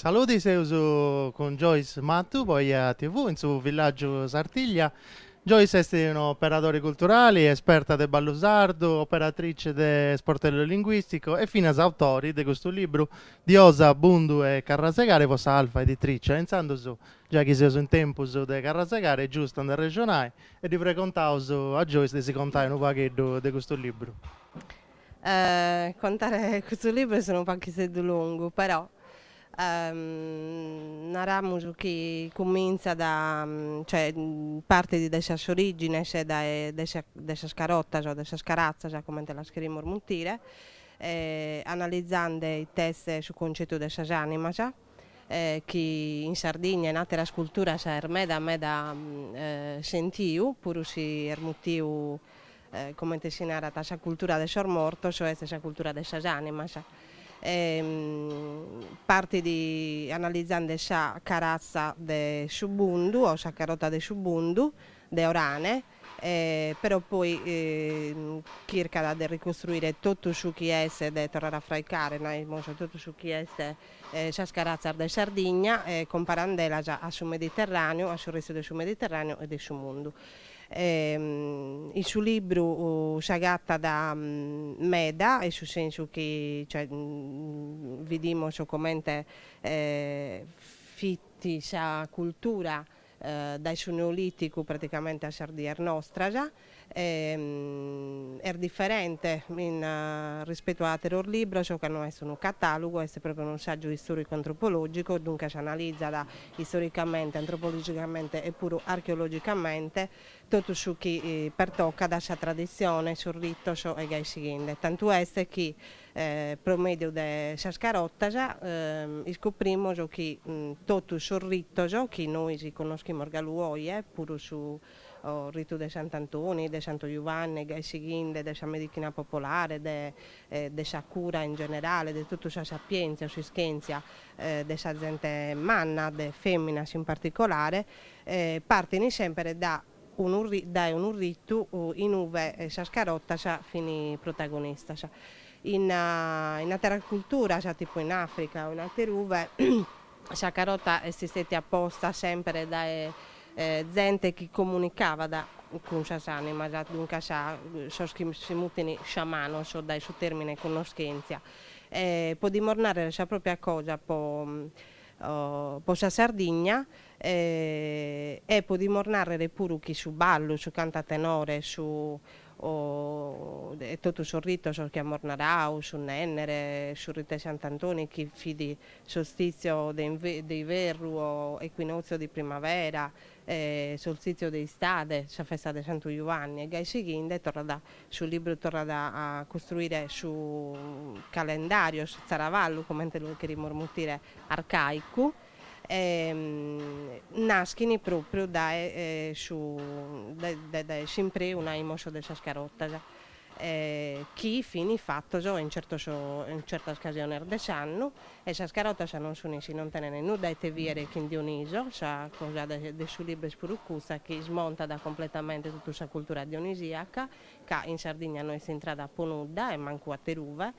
Saludi seus cun Joyce Mattu po Eja TV in su villàgiu Sartiglia. Joyce est un'operadori culturali, esperta de ballu sardu, operadori de Sportello Linguistico e finas autori de custu libru Diosa, Bundu e Carrasegare po sa Alfa Editrice e intzandus Giai chi seus in tempus de carrasegare est giustu a nde arrexonai e ddi pregontaus a Joyce de si contai unu pagheddu de custu libru. Contare custu libru est unu paghisseddu longu, però naramus chi cumintzat, cioè partit de sas origines dae de sa de sas carotas o de sas caratzas comente las cherimus muntire, analizande it'est su concetu de sas animas, chi in Sardigna e in àteras culturas est meda meda sentiu, puru si est mutiu, comente si narat, sa cultura de sos mortos, o est sa cultura de sas ànimas. Partit analizende sa caratza de su bundu o sa carota de su bundu de Orane, però poi chircat de ricostruire totu su chi est, de torrare a fraicare, naimus, totu su chi est sas caratzas de Sardigna, comparandelas a su Mediterraneu, a su restu de su Mediterraneu e de su mundu. In su libru s'agatat meda, in su sensu chi, cioè, bidimus comente fit sa cultura dae su Neolìticu praticamente a sas dies nostras, est diferente in rispetu a àteros libros, ca no est unu catàlogu, est pròpiu unu sàgiu istòricu-antropològicu, duncas analizat istoricamente, antropologicamente e puru archeologicamente totu su chi pertocat sa traditzione, sos ritos e gai sighende. Tantu est chi Pro mèdiu de sas carotas iscoprimos chi totus sos ritos chi nois connoschimus galu oje, puru su ritu de Sant'Antoni, de Santu Juvanne e gai sighinde, de sa medichina popolare, de sa cura in generale, de totu sa sapièntzia o s'ischèntzia de sa zente manna, de fèminas in particolare, partin semper dae unu dae unu ritu in ue sas carotas fin protagonistas. In in ateras culturas, tipu in Africa o in ater'ue, sa carota est stètia posta semper dae zente chi comunicabat cun sas ànimas, duncas sos chi si mutin sciamanos, dae su tèrmine connoschèntzia. Podimus nàrrere sa pròpia cosa po po sa Sardigna, E podimus nàrrere puru chi su ballu, su cantu a tenore, su e totu sos ritos chi amus naradu, su nènnere, su ritu 'e Sant'Antoni chi fit solstìtziu de iverru o equinòtziu de primavera, solstìtziu de istade, sa festa de Santu Juanni e gai sighende torrat su libru torrat a costruire su calendàriu, su tzaravallu comente lu cherimus mutire arcàicu. naschin pròpriu dae su dae s'impreu, naimus, de sas carotas, chi fin fatas in certos in certas casiones de s'annu, e sas carotas non sun si non tenent nudda a ite bìere chin Dioniso, sa cosa de su libru est puru custa chi smontat completamente totu sa cultura dionisiaca, ca in Sardigna no est intrada po nudda e mancu ateruve,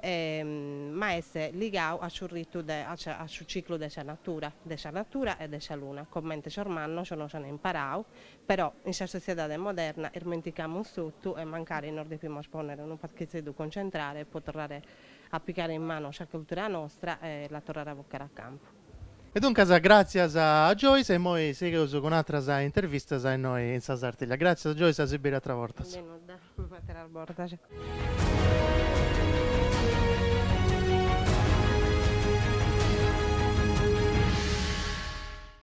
ma est ligau a su ritu de a su ciclu de sa natura, de sa natura e de sa luna, comente sos mannos nos an imparau, però in sa sotziedade moderna ismenticamus totu e mancari nos depimus ponnere unu paghizeddu concentrare po torrare a pigare in manu sa cultura nostra e la torrare a vocare a campu. E duncas gràtzias a Joyce e imoi sigheus cun àteras intervistas innoi in sa Sartiglia. Gràtzias Joyce, a si biri àteras bortas. De nudda. Cun ateras bortas.